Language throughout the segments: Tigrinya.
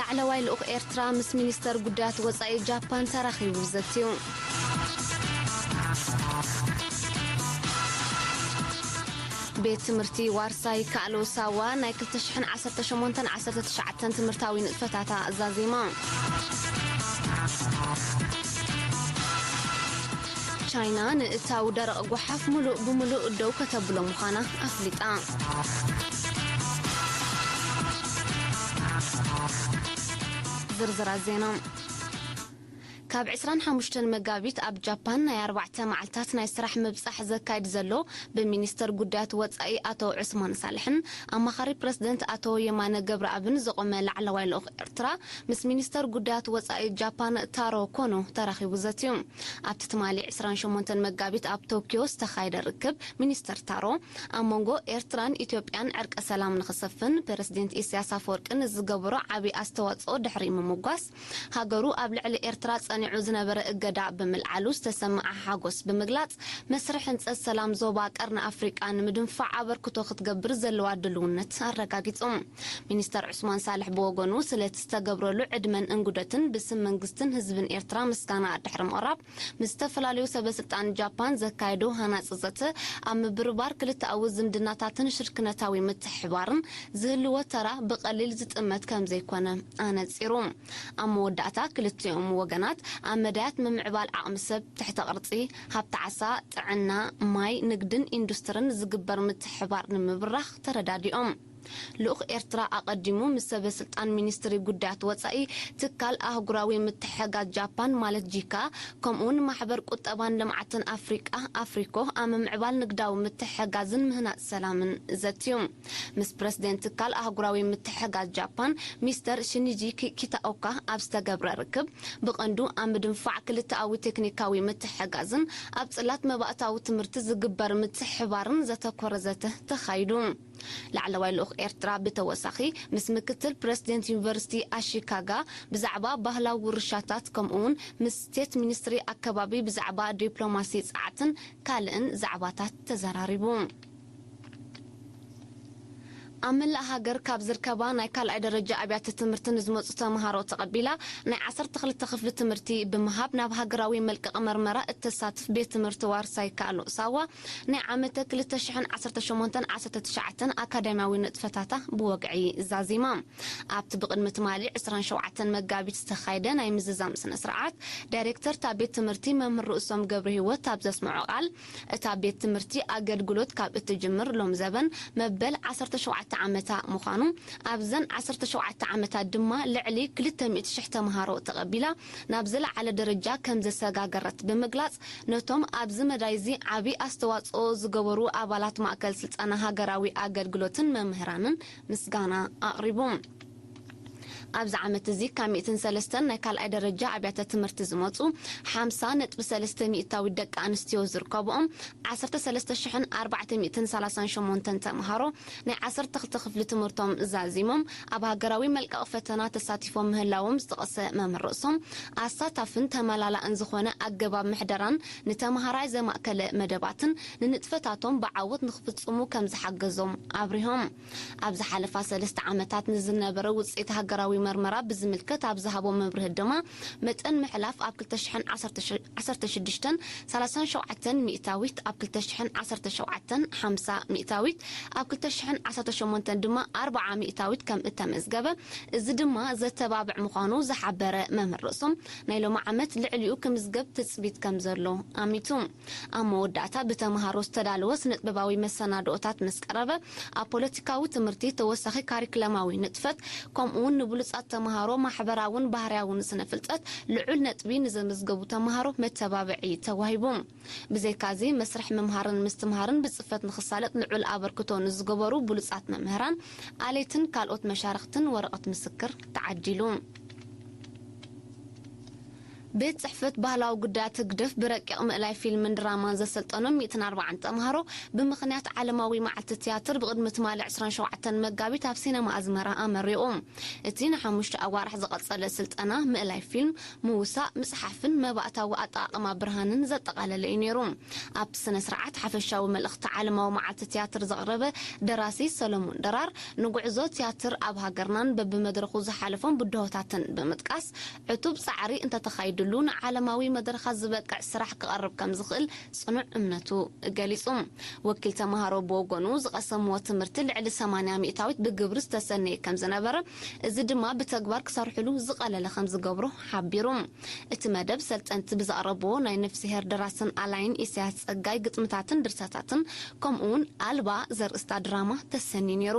ላዕለዋይ ልኡኽ ኤርትራ ምስ ሚኒስተር ጉዳያት ወጻኢ ጃፓን ተራኺቡ ዘትዩ። ቤት ትምህርቲ ዋርሳይ ካእሎ ሳዋ ናይ 2018 19 ትምህርታዊ ንጥፈታታ ዛዚማ። ቻይና ንእታው ደረቕ ጓሓፍ ምሉእ ብምሉእ ደው ከተብሎ ምዃና ኣፍሊጣ። ዝርዝራት ዜና ካብ 25 መጋቢት ኣብ ጃፓን ናይ ኣርባዕተ መዓልታት ናይ ስራሕ ምብጻሕ ዘካይድ ዘሎ ብሚኒስተር ጉዳያት ወጻኢ ኣቶ ዑስማን ሳልሕን ኣማኻሪ ፕረዚደንት ኣቶ የማነ ገብረኣብን ዝቖመ ላዕለዋይ ልኡኽ ኤርትራ ምስ ሚኒስተር ጉዳያት ወጻኢ ጃፓን ታሮ ኮኖ ተራኺቡ ዘትዩ። ኣብቲ ትማሊ ዕስራን ሸሞንተን መጋቢት ኣብ ቶክዮ ዝተኻየደ ርክብ፣ ሚኒስተር ታሮ፣ ኣብ መንጎ ኤርትራን ኢትዮጵያን ዕርቀ ሰላም ንኽሰፍን ፕረሲደንት ኢሳያስ ኣፈወርቂ ንዝገበሮ ዓቢ ኣስተዋጽኦ ድሕሪ ምምጓስ፣ ሃገሩ ኣብ ልዕሊ ኤርትራ ጸኒዑ ዝነበረ እገዳ ብምልዓሉ ዝተሰመዓ ሓጎስ ብምግላጽ፣ መስርሕ ህንጸት ሰላም ዞባ ቀርኒ ኣፍሪቃ ንምድንፋዕ ኣበርክቶ ክትገብር ዘለዋ ድሉውነት ኣረጋጊጹ። ሚኒስተር ዑስማን ሳልሕ ብወገኑ፣ ስለቲ ዝተገብረሉ ዕድመን እንግዶትን ብስም መንግስትን ህዝብን ኤርትራ ምስጋና ድሕሪ ምቕራብ፣ ምስ ዝተፈላለዩ ሰበስልጣን ጃፓን ዘካየዶ ሃናጺ ዘተ፣ ኣብ ምብርባር ክልተኣዊ ዝምድናታትን ሽርክነታዊ ምትሕብባርን ዝህልዎ ተራ ብቐሊል ዝጥመት ከምዘይኮነ ኣነጺሩ። ኣብ መወዳእታ፣ ክልቲኦም ወገናት፣ ኣብ መዳያት ምምዕባል ዓቕሚ ሰብ፣ ትሕተ ቅርጺ፣ ሃብቲ ዓሳ፣ ጥዕና፣ ማይ፣ ንግድን ኢንዱስትርን ዝግበር ምትሕብባር ንምብራኽ ተረዳዲኦም። ልኡኽ ኤርትራ ኣቐዲሙ ምስ ሰበስልጣን ሚኒስትሪ ጉዳያት ወጻኢ፣ ትካል ኣህጉራዊ ምትሕግጋዝ ጃፓን ማለት ጂካ፣ ከምኡ'ውን ማሕበር ቁጠባን ልምዓትን ኣፍሪቃ፣ ኣፍሪኮ፣ ኣብ ምምዕባል ንግዳዊ ምትሕግጋዝን ምህናጽ ሰላምን ዘትዩ። ምስ ፕረሲደንት ትካል ኣህጉራዊ ምትሕግጋዝ ጃፓን ሚስተር ሺኒጂ ኪታኦካ ኣብ ዝተገብረ ርክብ፣ ብቐንዱ ኣብ ምድንፋዕ ክልተኣዊ ቴክኒካዊ ምትሕግጋዝን ኣብ ጽላት መባእታዊ ትምህርቲ ዝግበር ምትሕብባርን ዘተኮረ ዘተ ተኻይዱ። ላዕለዋይ ልኡኽ ኤርትራ ብተወሳኺ ምስ ምክትል ፕረሲደንት ዩኒቨርሲቲ ኣሺካጋ ብዛዕባ ባህላዊ ውርሻታት ከምኡ'ውን ምስ ስቴት ሚኒስትሪ ኣከባቢ ብዛዕባ ዲፕሎማሲ ጸዓትን ካልእን ዛዕባታት ተዘራሪቡ። ኣብ መላእ ሃገር ካብ ዝርከባ ናይ ካልኣይ ደረጃ ኣብያተ ትምህርቲ ንዝመጹ ተመሃሮ ተቐቢላ ናይ ዓሰርተ ክልተ ክፍሊ ትምህርቲ ብምሃብ ናብ ሃገራዊ መልቀቒ መርመራ እተሳትፍ ቤት ትምህርቲ ዋርሳይ ይከኣሎ ሳዋ ናይ ዓመተ ክልተ ሽሕን ዓሰርተ ሸሞንተን ዓሰርተ ትሽዓተን ኣካዳምያዊ ንጥፈታታ ብወግዒ ዛዚማ። ኣብቲ ብቕድሚ ትማሊ ዕስራን ሸውዓተን መጋቢት ዝተኻየደ ናይ ምዝዛም ስነ-ስርዓት፣ ዳይሬክተር እታ ቤት ትምህርቲ መምህር ርእሶም ገብረሂወት ኣብ ዘስምዖ ቃል፣ እታ ቤት ትምህርቲ ኣገልግሎት ካብ እትጅምር ሎም ዘበን መበል ዓሰርተ ሸውዓተ ዓመታ ምዃኑ፣ ኣብዘን ዓሰርተ ሸውዓተ ዓመታት ድማ ልዕሊ ክልተ ሚእቲ ሽሕ ተመሃሮ ተቐቢላ ናብ ዝለዓለ ደረጃ ከምዘሰጋገረት ብምግላጽ፣ ነቶም ኣብዚ መዳይ'ዚ ዓቢ ኣስተዋጽኦ ዝገበሩ ኣባላት ማእከል ስልጠና ሃገራዊ ኣገልግሎትን መምህራንን ምስጋና ኣቕሪቡ። ኣብዚ ዓመት'ዚ ካብ ሚእትን ሰለስተን ናይ ካልኣይ ደረጃ ኣብያተ ትምህርቲ ዝመጹ ሓምሳ ነጥቢ ሰለስተ ሚእታዊት ደቂ ኣንስትዮ ዝርከብኦም ዓሰርተ ሰለስተ ሽሕን ኣርባዕተ ሚእትን ሰላሳን ሸሞንተን ተመሃሮ ናይ ዓሰርተ ክልተ ክፍሊ ትምህርቶም ዛዚሞም ኣብ ሃገራዊ መልቀቂ ፈተና ተሳቲፎም ምህላዎም ዝጠቐሰ መምህር ርእሶም፣ ኣሳታፍን ተመላላእን ዝኾነ ኣገባብ ምሕደራን ንተመሃራይ ዘማእከለ መደባትን ንንጥፈታቶም ብዓወት ንክፍጽሙ ከምዝሓገዞም ኣብሪሆም። ኣብ ዝሓለፋ ሰለስተ ዓመታት ንዝነበረ ውጽኢት ሃገራዊ መርመራ ብዝምልከት ኣብ ዝሃቦ መብርሂ ድማ መጠን ምሕላፍ ኣብ ክልተ ሽሕን ዓሰርተ ዓሰርተ ሽዱሽተን ሰላሳን ሸውዓተን ሚእታዊት ኣብ ክልተ ሽሕን ዓሰርተ ሸውዓተን ሓምሳ ሚእታዊት ኣብ ክልተ ሽሕን ዓሰርተ ሸሞንተን ድማ ኣርብዓ ሚእታዊት ከም እተመዝገበ እዚ ድማ ዘተባብዕ ምዃኑ ዝሓበረ መምህር ርእሶም ናይ ሎሚ ዓመት ልዕሊኡ ክምዝገብ ትጽቢት ከም ዘሎ ኣሚቱ ኣብ መወዳእታ ብተመሃሮ ዝተዳለወ ስነጥበባዊ መሰናድኦታት ምስ ቀረበ ኣብ ፖለቲካዊ ትምህርቲ ተወሳኺ ካሪክለማዊ ንጥፈት ከምኡውን ንብሉጻት ተመሃሮ ማሕበራውን ባህርያውን ስነ-ፍልጠት ልዑል ነጥቢ ንዘመዝገቡ ተመሃሮ መተባብዒ ተዋሂቡ። ብዘይካዚ፣ መስርሕ ምምሃርን ምስትምሃርን ብጽፈት ንኽሳለጥ ልዑል ኣበርክቶ ንዝገበሩ ብሉጻት መምህራን፣ ኣለይትን ካልኦት መሻርኽትን ወረቐት ምስክር ተዓዲሉ። ቤት ጽሕፈት ባህላዊ ጉዳያት ህግደፍ ብረቂቕ ምእላይ ፊልምን ድራማን ዘሰልጠኖም ሚእትን ኣርባዓን ተምሃሮ ብምኽንያት ዓለማዊ መዓልቲ ትያትር ብቕድሚ ትማሊ ዕስራን ሸውዓተን መጋቢት ኣብ ሲነማ ኣዝመራ ኣመሪቑ። እቲ ንሓሙሽተ ኣዋርሕ ዝቐጸለ ስልጠና ምእላይ ፊልም፣ ምውሳእ፣ ምጽሓፍን መባእታዊ ኣጠቓቕማ ብርሃንን ዘጠቓለለ እዩ ነይሩ። ኣብቲ ስነ-ስርዓት ሓፈሻዊ መልእኽቲ ዓለማዊ መዓልቲ ትያትር ዘቕረበ ደራሲ ሰለሙን ድራር ንጉዕዞ ትያትር ኣብ ሃገርናን በብመድረኹ ዝሓለፎም ብድሆታትን ብምጥቃስ ዕቱብ ጻዕሪ እንተተኻይድሉ ንዓለማዊ መድረኻት ዝበቅዕ ስራሕ ክቐርብ ከም ዝኽእል ጽኑዕ እምነቱ ገሊጹ። ወኪል ተማሃሮ ብወገኑ፣ ዝቐሰምዎ ትምህርቲ ልዕሊ ሰማንያ ሚእታዊት ብግብሪ ዝተሰነየ ከም ዝነበረ፣ እዚ ድማ ብተግባር ክሰርሕሉ ዝቐለለ ከም ዝገብሮ ሓቢሩ። እቲ መደብ፣ ሰልጠንቲ ብዘቕረብዎ ናይ ነፍስሄር ደራስን ኣላዪን ኢሳያስ ጸጋይ ግጥምታትን ድርሰታትን ከምኡ'ውን ኣልባ ዘርእስታ ድራማ ተሰንዩ ነይሩ።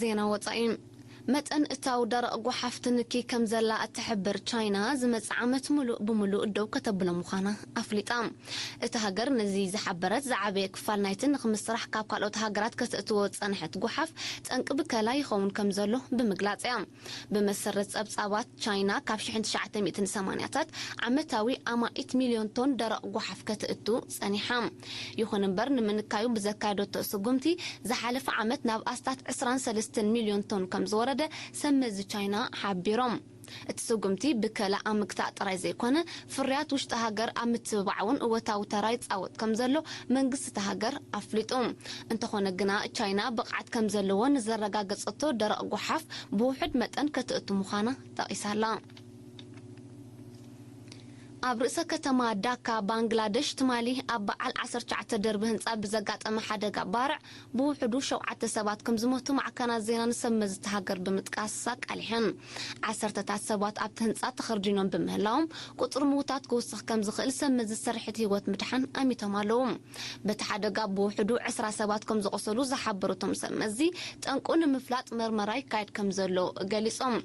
ዜና ወፃኢ መጠን እታው ደረቕ ጓሓፍ ትንኪ ከምዘላ እትሕብር ቻይና ዝመፅእ ዓመት ሙሉእ ብሙሉእ ደው ከተብሎ ምዃና ኣፍሊጣ። እታ ሃገር ነዚ ዝሓበረት ዝዓበየ ክፋል ናይቲ ንክምስራሕ ካብ ካልኦት ሃገራት ከተእትዎ ዝፀንሐት ጓሓፍ ጠንቂ ብከላ ይኸውን ከምዘሎ ብምግላፅ እያ። ብመሰረት ጸብጻባት ቻይና፣ ካብ ሽሕን ትሽዓተ ሚእትን ሰማንያታት ዓመታዊ ኣማኢት ሚልዮን ቶን ደረቕ ጓሓፍ ከተእቱ ጸኒሓ። ይኹን እምበር ንምንካዩ ብዘካየደቶ ስጉምቲ፣ ዝሓለፈ ዓመት ናብ ኣስታት ዕስራን ሰለስተን ሚልዮን ቶን ከም ዝወረደ ሰብ መዚ ቻይና ሓቢሮም። እቲ ስጉምቲ ብከላ ኣብ ምግታእ ጥራይ ዘይኮነ፣ ፍርያት ውሽጢ ሃገር ኣብ ምትብባዕ እውን እወታዊ ተራ ይፃወት ከምዘሎ መንግስቲ እታ ሃገር ኣፍሊጡ። እንተኾነ ግና ቻይና ብቕዓት ከምዘለዎ ንዘረጋገፀቶ ደረቕ ጓሓፍ ብውሑድ መጠን ከተእቱ ምዃና ጠቒሳ ኣላ። ኣብ ርእሰ ከተማ ዳካ ባንግላደሽ ትማሊ ኣብ በዓል ዓሰርተ ትሽዓተ ደርቢ ህንፃ ብዘጋጠመ ሓደጋ ባርዕ ብውሕዱ ሸውዓተ ሰባት ከምዝሞቱ ማዕከናት ዜና ንሰብ መዚ እታ ሃገር ብምጥቃስ ኣቃሊሐን። ዓሰርተታት ሰባት ኣብቲ ህንጻ ተኸርዲኖም ብምህላዎም፣ ቁጽሪ ምዉታት ክውስኽ ከምዝኽእል ሰብ መዚ ስርሒት ህይወት ምድሓን ኣሚቶም ኣለዉ። በቲ ሓደጋ ብውሕዱ ዕስራ ሰባት ከምዝቖሰሉ ዝሓበሩ እቶም ሰብ መዚ፣ ጠንቁ ንምፍላጥ መርመራ ይካየድ ከምዘሎ ገሊጾም።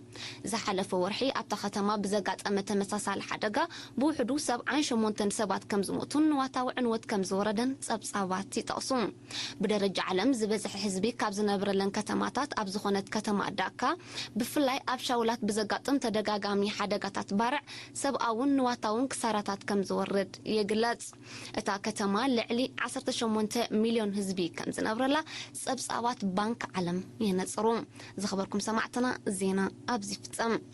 ዝሓለፈ ወርሒ ኣብታ ከተማ ብዘጋጠመ ተመሳሳሊ ሓደጋ ብውሕዱ ሰብዓን ሸሞንተን ሰባት ከምዝሞቱን ንዋታዊ ዕንወት ከምዝወረደን ጸብጻባት ይጠቕሱ። ብደረጃ ዓለም ዝበዝሐ ህዝቢ ካብ ዝነብረለን ከተማታት ኣብ ዝኾነት ከተማ ዳካ ብፍላይ ኣብ ሻውላት ብዘጋጥም ተደጋጋሚ ሓደጋታት ባርዕ ሰብኣውን ንዋታውን ክሳራታት ከምዝወርድ ይግለጽ። እታ ከተማ ልዕሊ ዓሰርተ ሸሞንተ ሚልዮን ህዝቢ ከምዝነብረላ ጸብጻባት ባንክ ዓለም የነጽሩ። ዝኸበርኩም ሰማዕትና ዜና ኣብዚ ይፍጸም።